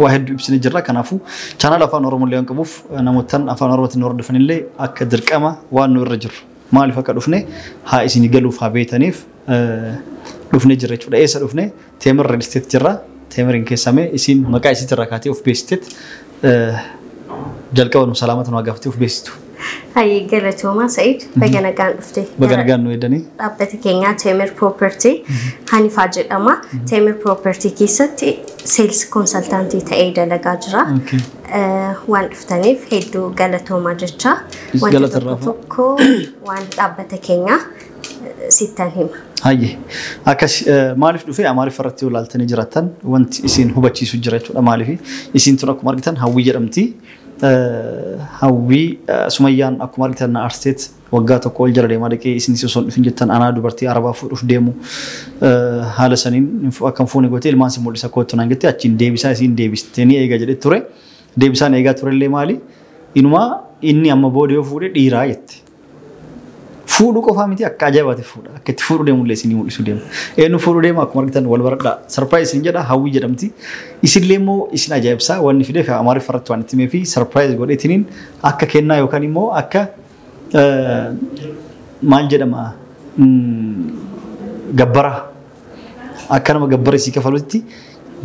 waa hedduu ibsine jirra. Kanaafuu chaanaala afaan Oromollee waan qabuuf namoottan afaan Oromootiin nu hordofanillee akka dirqama waan nu irra jiru maaliif akka dhufne haa isinii galuuf haa beetaniif dhufne jirra jechuudha. Eessa dhufne Teemir Real Estate jirra. Teemiriin keessamee isiin maqaa isiitirraa kaatee of beeksiteet jalqaba nu salaamata nu haa gaafatee of beeksitu. Hayyee galatoomaa Sa'id baga nagaan dhufte. Baga nagaan nu eegdanii. Dhaabbati keenyaa Teemir Property Hanifaa jedhama. Teemir Property keessatti seels konsaltaantii ta'ee dalagaa jira. Okay. Eh, Waan dhuftaniif hedduu galatoomaa jecha Is wanta galata irraa tokko tokko waan dhaabbata keenyaa eh, sittan hima. Hayyee. Akkas eh, maaliif dhufee Amaarif irratti yoo ilaaltanii jiraattan wanti isin hubachiisu jira jechuudha. Maaliif isin tun akkuma argitan hawwii jedhamti. Hawwii, Sumayyaan akkuma argitan na aarsteet waggaa tokko ol jala deemaa dhaqee isinis osoo hin dhufin jettan anaa dubartii Arabaa fuudhuuf deemu haala saniin akka hin fuune gootee ilmaan si mul'isa koottu naan jettee achiin deebisaa isiin deebiste ni eega jedhee ture. Deebisaan eegaa turellee maali? Inumaa inni amma booda yoo fuudhe dhiiraa jette. Fuudhuu qofaa miti akka ajaa'ibaati fuudha. Akka itti fuudhuu deemullee isinii mul'isuu deema. Eenyu fuudhuu deema akkuma argitan wal baradhaa. Sarpiraayiz isin jedha hawwii jedhamti. Isinillee immoo isin ajaa'ibsaa wanni fideef amaariffa irratti waan itti himeefi sarpiraayiz godheetiniin akka kennaa yookaan immoo akka maal jedhama gabbaraa akka nama gabbara isii kafalutti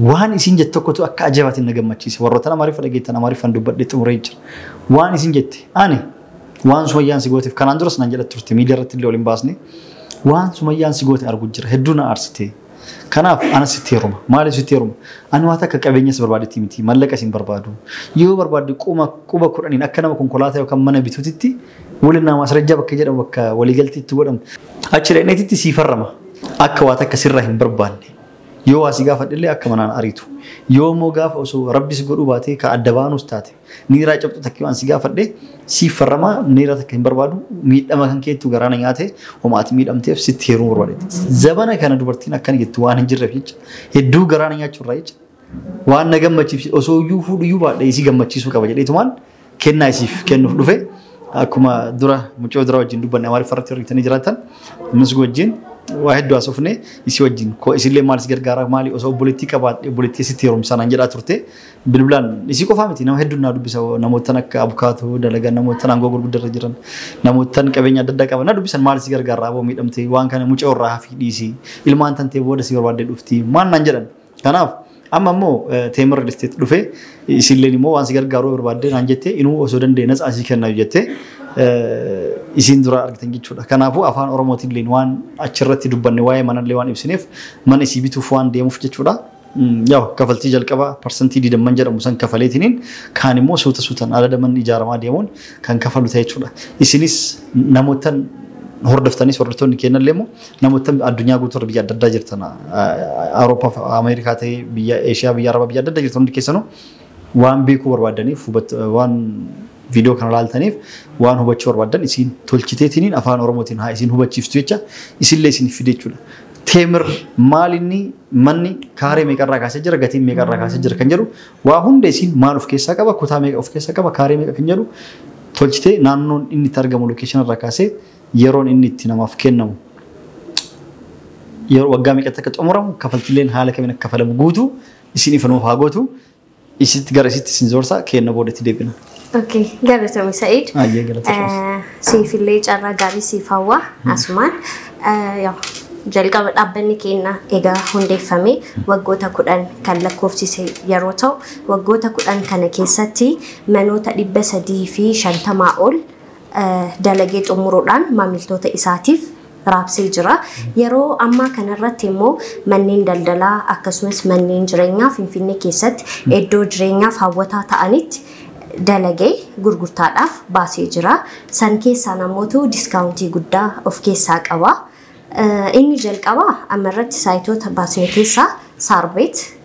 waan isin jette tokkotu akka ajaa'ibaatiin na gammachiise. Warroota amaariffa dhageettan amaariffaan dubbadhee xumuree jira. Waan isin jette ani Waan sumayyaan si gooteef kanaan duras nan jedha turte miidiyaa irratti illee ol hin baasne. Waan sumayyaan si goote argu jira hedduu na aarsite. Kanaaf ana sitti heeruma. Maaliif sitti heeruma? Ani waan akka qabeenya si barbaadetti miti. Mallaqa isin barbaadu. Yoo barbaadde quma quba kudhaniin akka nama konkolaataa yookaan mana bituutitti walinnaa maasrajjaa bakka jedhamu bakka waliigaltii itti godhan. Achi dhaqneetitti sii farrama. Akka waan akka sirraa hin barbaanne. Yoo waa si gaafadhe illee akka manaan ariitu. Yoo immoo gaafa osoo rabbis godhuu baatee ka adda baanus taate. Niiraa cabxu takkii waan si gaafadhe siif farramaa niira takka hin barbaadu miidhama kan keettu garaana nyaate homa ati miidhamteef sitti heeruu barbaade. Zabana kana dubartiin akkana jettu waan hin jirreef jecha hedduu garaana nyaachuu irraa jecha waan na gammachiif osoo iyyuu fuudhu iyyuu baadhe isii gammachiisuu qaba jedheetumaan kennaa isiif kennuuf dhufe akkuma dura mucoo dura wajjin dubbanne amaariffa irratti hir'itanii jiraatan ammas wajjin waa hedduu haasofne isii wajjin koo isillee maal si gargaara maali osoo obboleettii qabaadhe obboleettii sitti heerumsaa naan jedhaa turte bilbilaan isii qofaa miti nama hedduun naa dubbisa namoottan akka abukaatoo dalagan namoottan aangoo gurguddaa irra jiran namoottan qabeenya adda addaa qaban na dubbisan maal si gargaarraa aboo miidhamte waan kana mucaa irraa hafii dhiisi ilmaan tantee booda si barbaaddee dhufti maal naan jedhan kanaaf amma immoo teemir real estate dhufee isinleen immoo waan si gargaaruu barbaaddee naan jettee inuu osoo danda'e natsaa sii kennaa jettee isiin dura argitan jechuudha. Kanaafuu afaan Oromootiin illee waan achirratti dubbanne waa'ee manallee waan ibsineef mana isii bituuf waan deemuuf jechuudha. Yaw kafaltii jalqabaa parsantii digdamman jedhamu san kafaleetiniin kaan immoo suuta suutan adada manni ijaaramaa deemuun kan kafalu ta'a jechuudha. Isinis namoottan hordoftanis hordoftoonni keenyallee immoo namoottan addunyaa guutuurra biyya adda addaa jirtan Awurooppaa fi Ameerikaa ta'ee biyya Eeshiyaa biyya Arabaa biyya adda addaa jirtan hundi keessanuu waan beekuu barbaaddaniif hubat- waan viidiyoo kana laaltaniif waan hubachuu barbaaddan isiin tolchiteetiniin afaan Oromootiin haa isiin hubachiiftu jecha isinillee isiniif fide jechuudha. Teemir maal inni Manni kaaree meeqarraa kaasee jira, gatiin meeqarraa kaasee jira kan jedhu waa hunda isiin maal of keessaa qaba, kutaa meeqa of keessaa qaba, kaaree meeqa kan jedhu tolchitee naannoon inni itti argamu location irraa kaasee yeroon inni itti namaaf kennamu yeroo waggaa meeqatti akka xumuramu kafaltileen haala kamiin akka kafalamu guutuu isin ifa nuuf haa gootu. Isitti gara isitti isin zorsa keenna booda itti deebina. Okay, galatoomi Sa'iid. Ayyee galatoomi. Eh, Siif illee carraa gaarii siif hawwa asumaan. Eh, yaa, Jalqaba dhaabbanni keenya egaa hundeeffamee waggoota kudhan kan lakkoofsise yeroo ta'u waggoota kudhan kana keessatti manoota dhibba sadii fi shantamaa ol eh, dalagee xumuruudhaan maamiltoota isaatiif raabsee jira. Yeroo ammaa kanarratti immoo manneen daldalaa akkasumas manneen jireenyaa Finfinnee keessatti iddoo jireenyaaf hawwataa ta'anitti dalagee gurgurtaadhaaf baasee jira. San keessaa namoota diskaawuntii guddaa of keessaa qaba. Inni jalqabaa ammarratti saayitoota baasne keessaa Saarbeet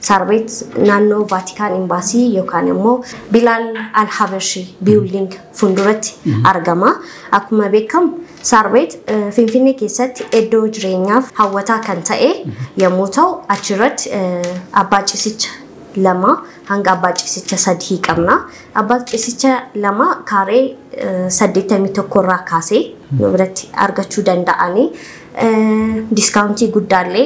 Saarbeet naannoo Vaatikaan Imbaasii yookaan immoo Bilaal Alhabashi Biilding fuulduratti argama. Akkuma beekamu Saarbeet Finfinnee keessatti iddoo jireenyaaf hawwataa kan ta'e yommuu ta'u achirratti abbaa cisicha lama hanga abbaa cisicha sadii qabna. Abbaa cisicha lama kaaree 81 irraa kaasee nu biratti argachuu danda'anii diskaawuntii guddaallee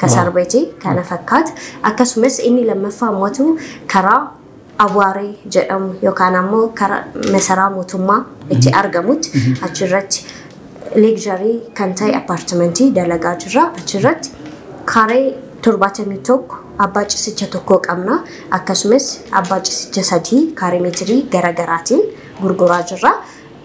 ka Waaw. sarbeeti kana fakkaata akkasumas inni lammaffaa ammatu karaa awaaree jedhamu yookaan ammoo karaa masaraa mootummaa itti argamutti achirratti leegjarii kan ta'e appaartimentii dalagaa jirra achirratti karee 71 abbaa cisicha tokkoo qabna akkasumas abbaa cisicha sadii kaaree meetirii garaagaraatiin gurguraa jirra.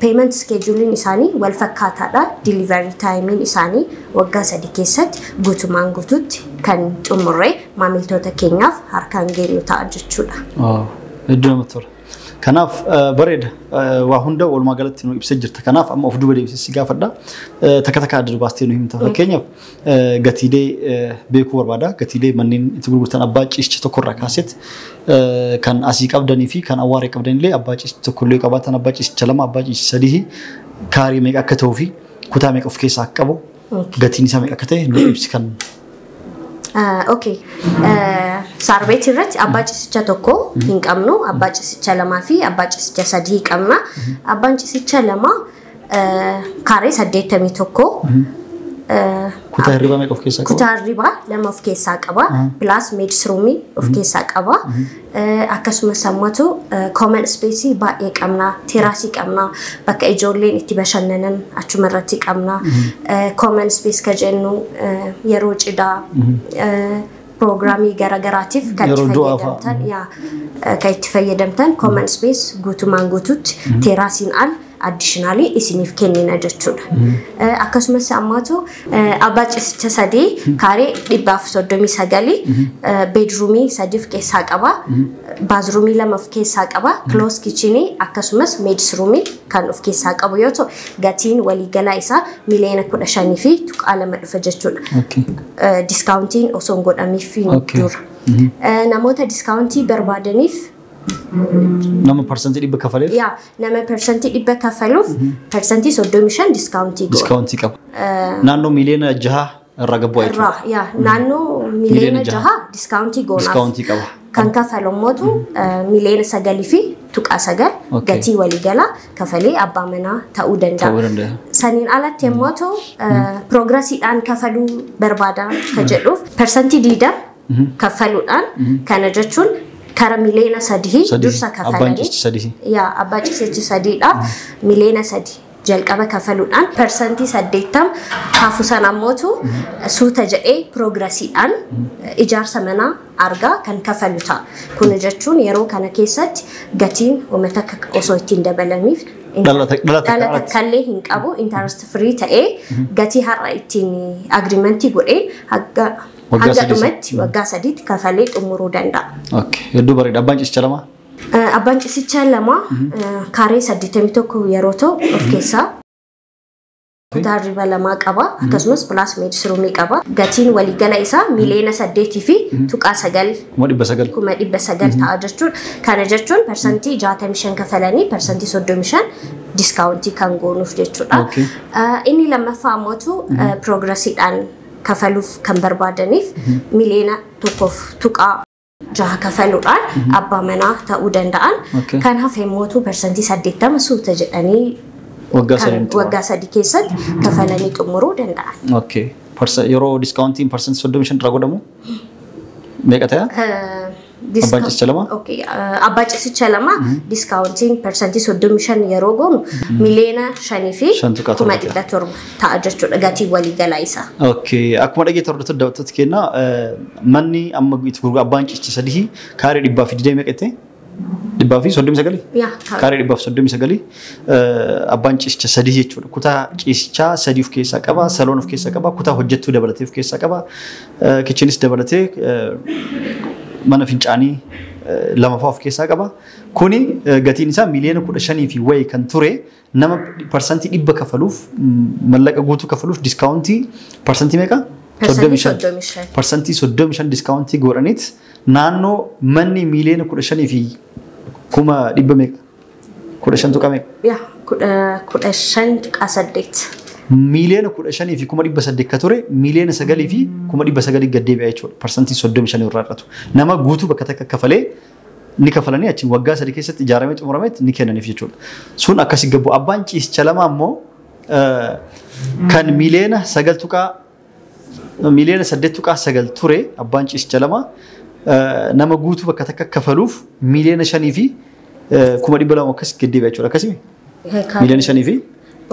Payment schedule'n isaanii wal fakkaataadha. Delivery time'n isaanii waggaa sadi keessatti guutumaan guutuutti kan xumurree maamiltoota keenyaaf harkaan geenyu ta'a jechuudha. Waaw, hedduu namatti tola. Kanaaf eh, bareeda Eh, waa hunda walumaa galatti nu ibsa jirta. Kanaaf amma of duuba deebisee si gaafadha. Eh, Takka takka adda dubaastee nu himta. Fakkeenyaaf gatiilee beekuu barbaada. Gatiilee manneen itti gurgurtan abbaa ciisicha tokko irraa kaaseet kan asii qabdanii fi kan awwaaree qabdanillee abbaa ciisicha tokko illee qabaatan abbaa ciisicha lama abbaa ciisicha sadii kaarii meeqa akka ta'uu fi kutaa meeqa of keessaa akka qabu gatiin isaa meeqa akka ta'e nu ibsi kan Okay. Saarbeet irratti abbaa ciisicha tokko hin qabnu. Abbaa ciisicha lamaa fi abbaa ciisicha sadii qabna. Abbaan ciisicha lama Kaaree 81. Kutaa hirribaa meeqa of keessaa qaba? Kutaa hirribaa lama of keessaa qaba. Pilaas meedisruumii of keessaa qaba. Akkasumas ammatu kooman ispeesii baay'ee qabna. Teeraasii qabna. Bakka ijoolleen itti bashannanan achuma irratti qabna. Kooman ispees ka jennu yeroo cidhaa piroogiraamii garaagaraatiif kan itti Yeroo du'aa fa'a. fayyadamtan yaa eh, kan itti fayyadamtan common space guutumaan guutuutti teeraasiin al additionally isiniif kennina jechuudha. Eh, Akkasumas ammaatu eh, abbaa ciisicha sadii kaaree dhibba afur soddomii sagalii eh, beedruumii sadii of keessaa qaba. Baazruumii lama of keessaa qaba. Kiloos kichinii akkasumas meedisruumii kan of keessaa qabu yoo ta'u gatiin waliigalaa isaa miliyoona kudha shanii fi tuqaa lama dhufa jechuudha. Okay. eh, diskaawuntiin osoo hin godhamiifiin Okay. dura. Eh, Namoota diskaawuntii barbaadaniif Nama parsantii dhibba kafaleef yaa nama persantii dhibba kafaluuf persantii soddomii shan diskaawuntii goona. diskaawuntii qaba. Naannoo miliyoona jaha irraa gabbu'aa jechuudha. Irraa yaa naannoo miliyoona Miliyoona jaha. jaha diskaawuntii goonaaf. Diskaawuntii qaba. kan kafalu immoo tu miliyoona sagalii fi tuqaa sagal Okay. gatii waliigalaa kafalee abbaa manaa ta'uu danda'a. Ta'uu danda'a. Saniin alatti immoo tu piroogirasiidhaan kafaluu barbaada ka jedhuuf parsantii diida kaffaluudhaan kana jechuun kara miliyoona sadii Sadii. dursa Abbaan kafalanii cisti sadii. yaa abbaa ciseechi sadiidhaaf miliyoona sadii jalqaba kafaluudhaan parsantii 80 hafu san ammootu suuta jedhee piroogirasiidhaan ijaarsa manaa argaa kan kafalu ta'a. Kun jechuun yeroo kana keessatti gatiin uummata akka osoo ittiin dabalaniif Dhala tak- dhala takka dhala irratti. takkaallee hin qabu interest free ta'ee gatii har'a ittiin agriimentii godhee hanga Waggaa hanga sadii. dhumatti waggaa sadiitti kafalee xumuruu danda'a. Okay. Hedduu bareeda. Abbaan ciisicha lama. Abbaan cisichaa lama kaaree 81 yeroo ta'u of keessaa kutaa hirriba lamaa qaba akkasumas pilaas meedisiruumii qaba gatiin waliigala isaa miliyoona saddeetii fi tuqaa sagal Kuma dhibba sagal. kuma dhibba sagal ta'a jechuudha kana jechuun parsantii 65 kafalanii parsantii 35 diskaawuntii kan goonuuf jechuudha Okay. Ah, inni lammaffaa ammootu piroogirasiidhaan kafaluuf kan barbaadaniif miliyoona tokkoof tuqaa jaha kafaluudhaan abbaa manaa ta'uu danda'an. Okay. Kan hafe immoo parsantii saddeettama suuta jedhanii Waggaa kan sadiin xumura. waggaa sadii keessatti kafalanii xumuruu danda'an. Okay. Parsa- Yeroo diskaawuntiin parsantii soddomii shan irraa godhamu meeqa ta'e? Abbaan cisicha lama? Okay. eh, Abbaa cisicha lama diskaawuntiin parsantii soddomii shan yeroo goonu miliyoona shanii fi Shan tuqaa kuma torba ta'e. dhibba torba. ta'a jechuudha gatii waliigalaa isaa. Okay. Akkuma dhageetti hordoftoota daawwattoota keenyaa eh, manni amma itti gurgura abbaan ciichi sadii kaaree dhibbaa fi digdamii meeqa ta'e? Dhibbaa fi soddomii sagalii? Yaa ta'a. Kaaree dhibbaa fi soddomii sagalii eh, abbaan ciisicha sadii jechuudha. Kutaa ciisichaa sadii of keessaa qaba, saloon of keessaa qaba, kutaa hojjettuu dabalatee of keessaa qaba, eh, kichinis dabalatee eh, mana fincaanii eh, lamafaa of keessaa qaba. Kuni eh, gatiin isaa miiliyoona kudha shanii fi wayii kan ture Nama parsantii dhibba kafaluuf mallaqa guutuu kafaluuf diskaawuntii parsantii meeqa? Parsantii 35. 35. Parsantii 35 diskaawuntii godhaniit naannoo manni miiliyoona 15 fi kuma dhibba meeqa? 15 tuqa meeqa? Yaa kudha kudha shan tuqaa saddeet. Miiliyoona 15 fi kuma dhibba saddeet ka ture miiliyoona 9 fi kuma dhibba 9 gad deebi'a jechuudha. Parsantii 35 irraa hir'atu. Nama guutuu bakka takka kafalee ni kafalanii achiin waggaa sadii keessatti ijaaramee xumurametti ni kennaniif jechuudha. Sun akkasi gabbu abbaan ciisicha lama ammoo kan miliyoona sagal tuqaa miliyoona saddeet tuqaa sagal ture abbaan ciisicha lama nama guutuu bakka takka kafaluuf miliyoona shanii fi kuma dhibba lama akkas gaddeebi'a jechuudha akkasimi. Miiliyoona shanii fi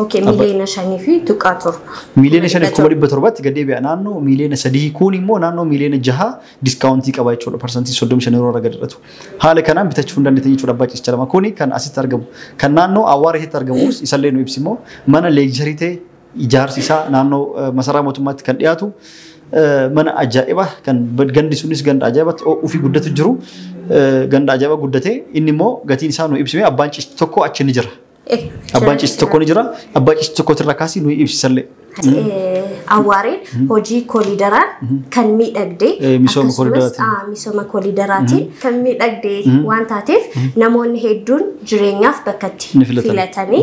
Okay, Abba- miiliyoona shanii fi tuqaa torba. miiliyoona shanii fi kuma dhibba torbatti gad deebi'a naannoo miiliyoona sadii kuun immoo naannoo miiliyoona jaha diskaawuntii qaba jechuudha parsantii soddomi shan yeroo irra gad hir'atu. Haala kanaan bitachuu hin dandeettan jechuudha abbaa ciisicha lama kuni kan asitti argamu kan naannoo awwaara keessatti argamus isallee nu ibsi immoo mana leegjarii ta'e Ijaarsi isaa naannoo masaraa mootummaatti kan dhiyaatu mana ajaa'iba kan gandi sunis ganda ajaa'ibatti ho'uu fi guddatu jiru ganda ajaa'iba guddate inni immoo gatiin isaa nu ibsime abbaan cisti tokko achi ni jira. Abbaan cisti tokko ni jira abbaa cisti tokko irraa kaasii nu ibsisallee. Awwaareen hojii koliidaraan kan miidhagde misooma koliidaraatiin misooma koliidaraatiin kan miidhagde waan taateef namoonni hedduun jireenyaaf bakka itti filatanii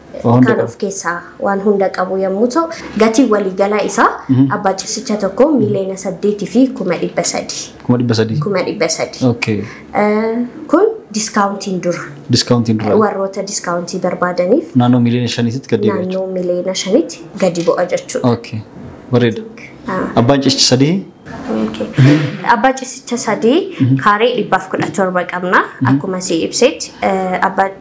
kan of keessaa waan hunda qabu yommuu ta'u gatiin waliigalaa isaa abbaa ciisicha tokko miiliyoona saddeetii fi kuma dhibba sadii. Kuma dhibba sadii. Kuma dhibba sadii. Okay. Kun diskaawuntiin dura. Diskaawuntiin dura. Warroota diskaawuntii barbaadaniif. Naannoo miiliyoona shaniitti gadi bu'a. Naannoo miiliyoona shaniitti gadi bu'a jechuudha. Okay. Bareeda. Abbaan ciisicha sadii. Abbaa ciisicha sadii kaaree dhibbaaf kudha torba qabna. Akkuma si ibsetti abbaa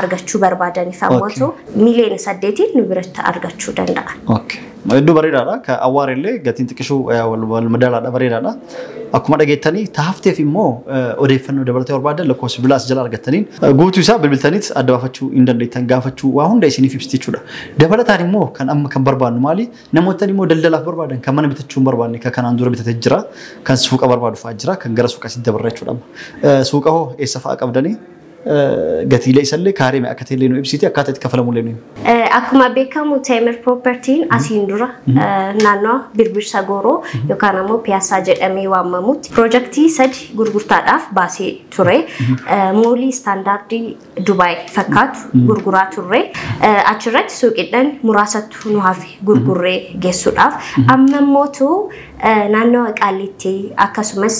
argachuu barbaadaniif ammoo miliyoona saddeetiin nu biratti argachuu danda'a. Okay. Hedduu bareedaadha. Ka awwaar illee gatiin xiqqishuu eh, wal wal madaalaadha bareedaadha. Akkuma dhageettanii taafteef immoo eh, odeeffannoo dabalatee barbaadan lakkoofsa bilaa as jala argattaniin eh, guutuu isaa bilbiltaniit adda baafachuu hin dandeettan gaafachuu waa hunda isiniif ibsiti jechuudha. Dabalataan immoo kan amma kan barbaadnu maali? Namoottan immoo daldalaaf barbaadan kan mana bitachuu hin barbaadne kan kanaan dura bitatee jira kan suuqa barbaadu fa'aa jira kan gara suuqa sitti dabarra jechuudha. amma. Eh, Suuqa hoo eessa fa'aa qabdanii? Gatiilee isallee kaaree meeqa akka ta'ellee nu ibsiti akkaataa itti kafalamullee nu himi. Akkuma beekamu Teemir Propertiin asiin dura naannoo Birbirsa Gooroo yookaan ammoo Piyaasaa jedhamee waamamutti piroojaktii sadi gurgurtaadhaaf baasee ture. Moolii istaandaardii Dubaay fakkaatu gurguraa turre. Achirratti suuqiidhaan muraasatu nu hafe gurgurree geessuudhaaf. Amma immoo Naannoo Qaallitti akkasumas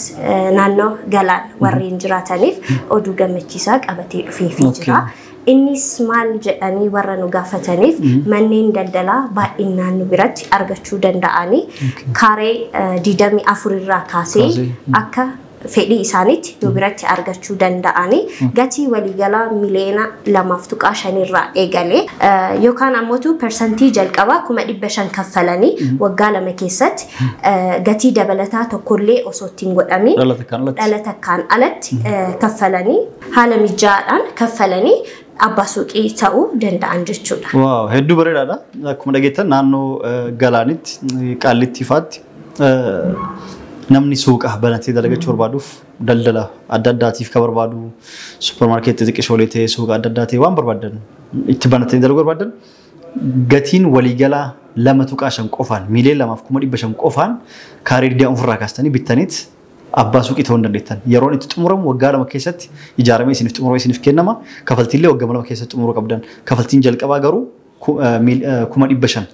naannoo Galaan warreen jiraataniif oduu gammachiisaa qabatee dhufeefii okay. jira. Innis maal jedhanii warra nu gaafataniif mm-hmm. manneen daldalaa baay'inaan nu biratti argachuu danda'anii kaaree 24 irraa kaasee akka fedhii isaaniitti nu biratti argachuu danda'anii gatii waliigalaa miliyoona lamaaf tuqaa shanirraa eegale eh, yookaan ammotu persantii jalqabaa kuma dhibba shan kaffalanii waggaa lama keessatti eh, gatii dabalataa tokkollee osoo ittiin godhamiin Dhala takkaan alatti. dhala takkaan alatti eh, kaffalanii haala mijaa'aadhaan kaffalanii abbaa suuqii ta'uu danda'an jechuudha. Waaw hedduu bareedaadha. Akkuma dhageettan naannoo eh, galaanitti eh, qaallitti ifaatti namni suuqa banatee dalagachuu barbaaduuf daldala adda addaatiif ka barbaadu suuparmaarkeetti xiqqishoolee ta'ee suuqa adda addaa ta'ee waan barbaadan itti banatanii dalaguu barbaadan gatiin waliigalaa lama tuqaa shan qofaan miiliyoon lamaaf kuma dhibba shan qofaan kaarii digdama ofirraa kaastanii bittaniit abbaa suuqii ta'uu hin dandeettan. Yeroon itti xumuramu waggaa lama keessatti ijaaramee isiniif xumurama isiniif kennama. Kafaltiillee waggaa lama keessatti xumuruu qabdan. Kafaltiin jalqabaa garuu kuma dhibba shan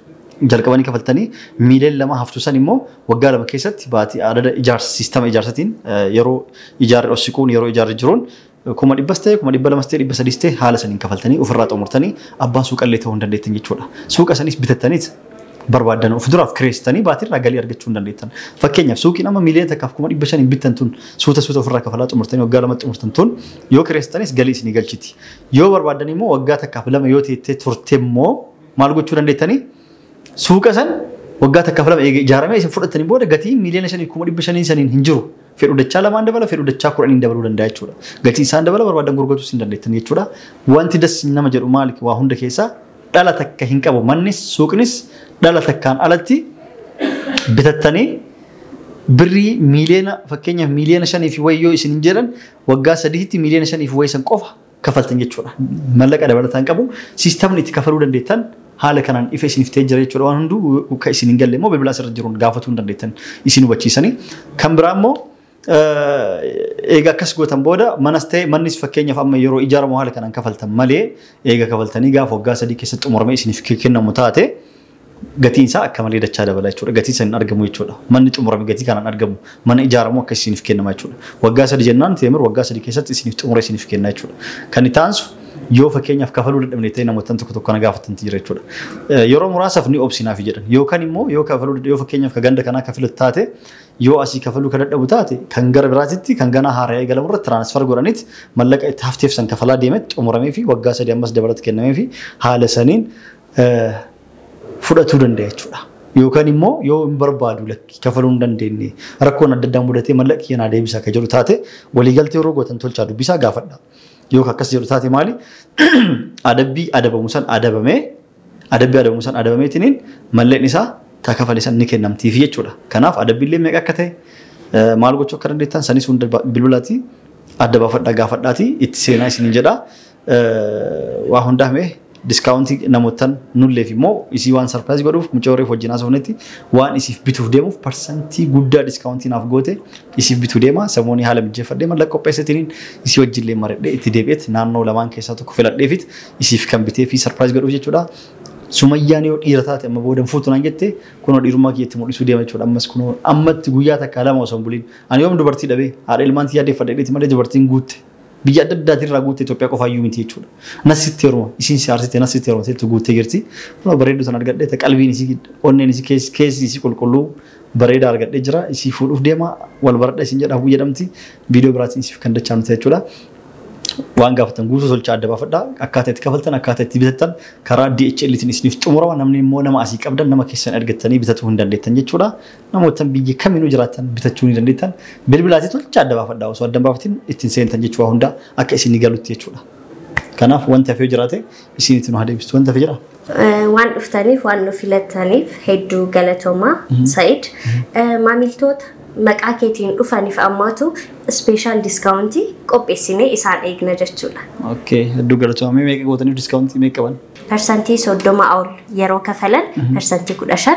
jalqabanii kafaltanii miiliyoon lama haftu san immoo waggaa lama keessatti baatii adada ijaarsa siistama ijaarsatiin yeroo ijaarri ossiquun yeroo ijaarri jiruun kuma dhibbas ta'e kuma dhibba lamas ta'e dhibba sadiis ta'e haala saniin kafaltanii ofirraa xumurtanii abbaa suuqallee ta'uu hin dandeettan jechuudha. Suuqa sanis bitattaniit barbaaddan of duraaf kireessitanii baatiirraa galii argachuu hin dandeettan. Fakkeenyaaf suuqiin amma miiliyoona takkaaf kuma dhibba shaniin bittan tun suuta suuta ofirraa kafalaa xumurtanii waggaa lamatti xumurtan tun yoo kireessitanis galii isinii galchiti. Yoo barbaaddan immoo waggaa takkaaf lama yoo teettee turte immoo maal gochuu dandeettanii? Suuqa san waggaa takkaaf lama eega ijaaramee isin fudhattanii booda gatii miiliyoona shanii kuma dhibba shanii saniin hin jiru. Fedhu dachaa lamaan dabala, fedhu dachaa kudhaniin dabaluu danda'a jechuudha. Gatii isaan dabala barbaaddan gurgurachuu isin dandeettan jechuudha. Wanti das nama jedhu maali waa hunda keessaa dhala takka hin qabu. Mannis suuqnis dhala takkaan alatti bitattanii birrii miiliyoona fakkeenyaaf miiliyoona shanii fi wayyoo isin hin jedhan waggaa sadiitti miiliyoona shaniif wayii san qofa kafaltan jechuudha. Mallaqa dabalataan qabu siistamni itti kafaluu dandeettan haala kanaan ifa isiniif ta'ee jira jechuudha. Waan hunduu kan isin hin galle immoo bilbila asirra jiruun gaafatuu hin dandeettan isin hubachiisanii. Kan biraa immoo eega akkas gootan booda manas ta'e mannis fakkeenyaaf amma yeroo ijaaramu haala kanaan kafaltan malee eega kafaltanii gaafa waggaa sadii keessatti xumuramee isiniif kennamu taate gatiin isaa akka malee dachaa dabala jechuudha. Gatii san hin argamu jechuudha. Manni xumurame gatii kanaan argamu. Mana ijaaramu akka isiniif kennama jechuudha. Waggaa sadi jennaan teemir waggaa sadi keessatti isiniif xumure isiniif kenna jechuudha. Kan itti aansu yoo fakkeenyaaf kafaluu dadhabne ta'e namoota tokko tokko na gaafatan jira jechuudha. Yeroo muraasaaf ni obsinaaf jedhan. Yookaan immoo yoo kafaluu yoo fakkeenyaaf ka ganda kanaa kafilatu taate yoo asii kafaluu ka dadhabu taate kan gara biraatitti kan ganaa haara'ee eegalamu irratti tiraansfar godhaniit mallaqa itti hafteef san kafalaa deemetti xumuramee fi waggaa sadii ammas dabalata kennamee fi haala saniin fudhatuu danda'a jechuudha. Yookaan immoo yoo hin barbaadu lakkii kafaluu hin dandeenye rakkoon adda addaa mudatee mallaqni keenyaa deebisaa akka jedhu taate waliigaltee yeroo gootan tolchaa dubbisaa gaafadha. Yoo akkas jedhu taate maali? Adabbii adabamu san adabamee adabbii adabamu san adabameetiniin mallaqni isaa taa kafale san ni kennamtiif jechuudha. Kanaaf adabbiillee meeqa akka ta'e maal gochuu akka dandeettan sanis hunda bilbilaatii adda baafadhaa gaafadhaatii itti seenaa isiniin jedhaa. waa hundaa mee diskaawuntii namoottan nulleef immoo isii waan sarpiraayis godhuuf mucaa warreef wajjin haasofnetti waan isiif bituuf deemuuf parsantii guddaa diskaawuntii naaf goote isiif bituu deema samoonii haala mijjeeffadhee mallaqa qopheessitiniin isii wajjillee maradhee itti deebi'eet naannoo lamaan keessaa tokko filadheefit isiif kan bitee fi sarpiraayis godhuuf jechuudha. Sumayyaan yoo dhiira taate amma booda hin fuutu naan jette kunoo dhiirummaa kiyyatti mul'isuu deema jechuudha ammas kunoo ammatti guyyaa takka lama osoo hin buliin ani yoom dubartii dhabee haadha ilmaan tiyyaa deeffadhe dheeti malee dubartiin guutte Biyya adda addaatii irraa guutte Itoophiyaa qofaa iyyuu miti jechuudha. Nas sitti heeruma. Isiin si haarsite nas sitti heerumte itti guuttee jirti. Kunoo bareedduu sana argadhee ta qalbiin isii onneen isii kees- keessi isii qulqulluu bareedaa argadhee jira. Isii fuudhuuf deema wal baradha isin jedha hawwii jedhamti. Viidiyoo biraatiin isiif kan dachaanu ta'a jechuudha. Waan gaafatan guutuu tolchaa adda baafadha. Akkaataa itti kafaltan akkaataa itti bitattan karaa DHL tiin isiniif xumurama. Namni immoo nama asii qabdan nama keessan ergattanii bitatuu hin dandeettan jechuudha. Namoottan biyya kaminuu jiraattan bitachuu ni dandeettan. Bilbilaatii tolchaa adda baafadhaa. Osoo adda hin baafatin ittiin seentan jechuu waa hundaa akka isinii galutti jechuudha. Kanaaf wanti hafee jiraate isinitti nu haa deebistu. Wanti hafe jiraa? Waan dhuftaniif waan nu filattaniif hedduu galatoomaa Sa'id. Maamiltoota maqaa keetiin dhufaniif ammaatu ispeeshaal diskaawuntii qopheessinee isaan eegna jechuudha. Okay, hedduu galatoomaa. Mee meeqa gootaniif diskaawuntii meeqa qaban? Parsantii 30 ol yeroo kafalan parsantii 15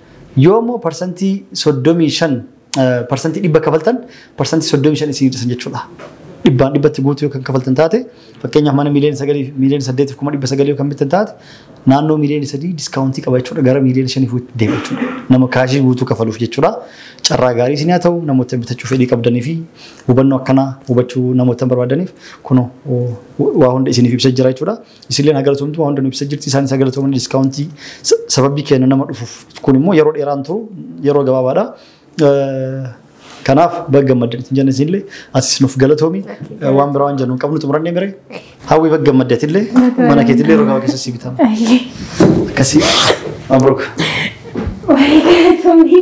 Yoo immoo parsantii 35 parsantii dhibba kafaltan parsantii 35 isin hir'isan jechuudha. Dhibbaan dhibbatti guutuu yoo kan kafaltan taate fakkeenyaaf mana miiliyoona sagalii miiliyoona saddeetiif kuma dhibba sagalii yoo kan bittan taate naannoo miiliyoona sadii diskaawuntii qaba jechuudha gara miiliyoona shaniif itti deema jechuudha. Nama kaashii guutuu kafaluuf jechuudha. Carraa gaarii isin haa ta'u namoota bitachuu fedhii qabdanii fi hubannoo akkanaa hubachuu namoota barbaadaniif kunoo waa hunda isiniif ibsa jira jechuudha. Isilleen haa galatomtu waan hunda nu ibsa jirti isaanis haa galatoman diskaawuntii sababii keenya nama dhufuuf kun immoo yeroo dheeraan turu yeroo gabaabaadha. Kanaaf baga gammaddan isin jenna isinillee atis nuuf galatoomi waan biraa waan jennu hin qabnu xumurannee mire hawwii baga gammadde atillee mana keetillee yeroo gabaabaa keessa si bitama. Akkasii mabruuk. Waa'ee galatoomii.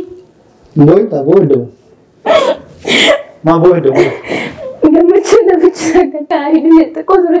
Boo'ita boo'idda maa boo'idda boo'idda. Gammachuu namicha akka taa'ee xiqqoo ture.